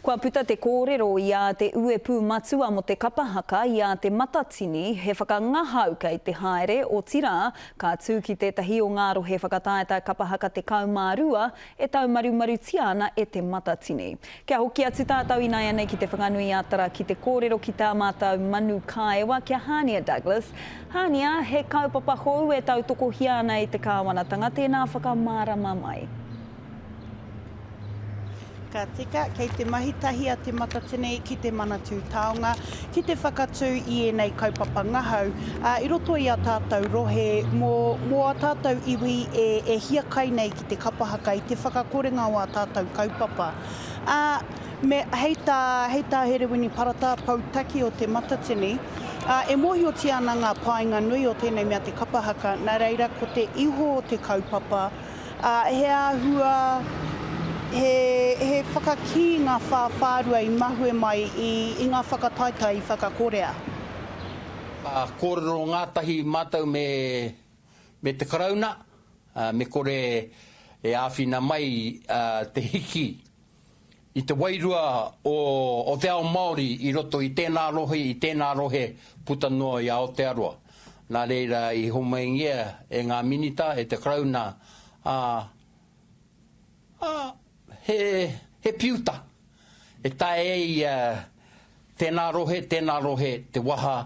Kua puta te kōrero i ā te uepū matua mō te kapa haka i ā Te Matatini he whakangahau kei te haere, otirā, ka tū ki tētahi o ngā rohe whakataetae kapa haka 12 e taumarumarutia ana e Te Matatini. Kia hoki atu tātou inaianei ki Te Whanganui-a-Tara ki te kōrero ki tā mātou manu kāewa ki a Hānia Douglas. Hānia, he kaupapa hou e tautokohia ana e te kāwanatanga tēnā whakamārama mai. Ka tika, kei te mahi tahi a Te Matatini ki te Manatū Taonga ki te whakatū i ēnei kaupapa ngahau i roto i a tātou rohe mō, mō a tātou iwi e, e hiakai nei ki te kapa haka i te whakakorenga o a tātou kaupapa. A, me, hei tā, hei tā Herewini Parata, Poutaki o Te Matatini, a, e mōhiotia ana ngā painga nui o tēnei mea te kapa haka, nā reira ko te iho o te kaupapa, Ā, he āhua, he, he whakakī ngā whāwhārua i mahue mai i, i ngā whakataetae i whakakorea. Ā, kōrero ngātahi mātou me, me te Karauna, ā, me kore e āwhina mai, ā, te hiki i te wairua o te ao Māori i roto i tēnā rohe, i tēnā rohe puta noa i Aotearoa. Nā reira i homaingia e ngā Minita, e te Karauna, ā, ā, he, he piuta e taea e ia tēnā rohe, tēnā rohe te waha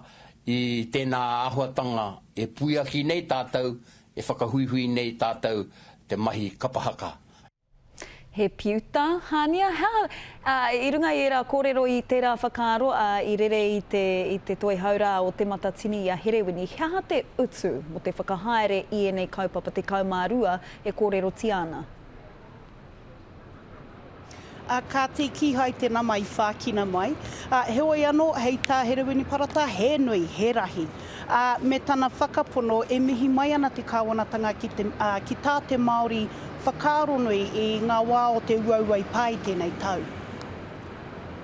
i tēnā āhuatanga e puiaki nei tātou, e whakahuihui nei tātou te mahi kapa haka. He piuta, hānia, he aha? Ā, i runga i ērā kōrero i tērā whakaaro, ā, i rere i te, i te toihau rā o Te Matatini i a Herewini, he aha te utu mō te whakahaere i ēnei kaupapa tekau mā rua e kōrerotia ana? Ā, kāti, kīhai te nama i whākina mai. Ā, heoi anō, hei tā Herewini Parata, he nui, he rahi. ā, me tana whakapono e mihi mai ana te Kāwanatanga ki te, ā, ki tā te Māori whakaaronui i ngā wā o te uaua i pā i tēnei tau.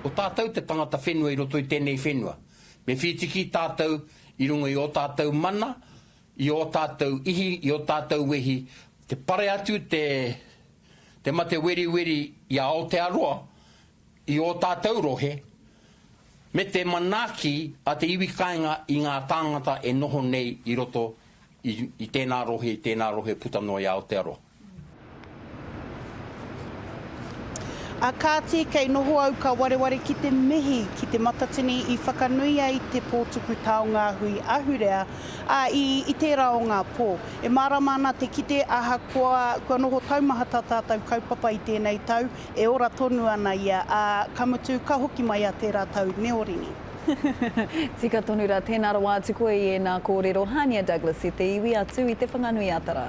Ko tātou te tangata whenua i roto i tēnei whenua. Me whītiki tātou i runga i ō tātou mana, i ō tātou ihi, i ō tātou wehi, te pare atu te, te mate weriweri i a Aotearoa, i ō tātou rohe, me te manaaki a te iwi kāinga i ngā tāngata e noho nei i roto i tēnā rohe, i tēnā rohe puta noa i Aotearoa. Ā kāti, kei noho au ka wareware ki te mihi ki Te Matatini i whakanui ai te pōtuku taonga hui ahurea, ā, i, i tērā o ngā pō. E mārama ana te kite ahakoa kua noho taumahata tātou kaupapa i tēnei tau, E ora tonu ana ia, ā, ka mutu, ka hoki mai a tērā tau neorini. Tika tonu rā, tēnā rawa atu koe i ēnā kōrero, Hania Douglas, e te iwi atu i Te Whanganui-a-Tara.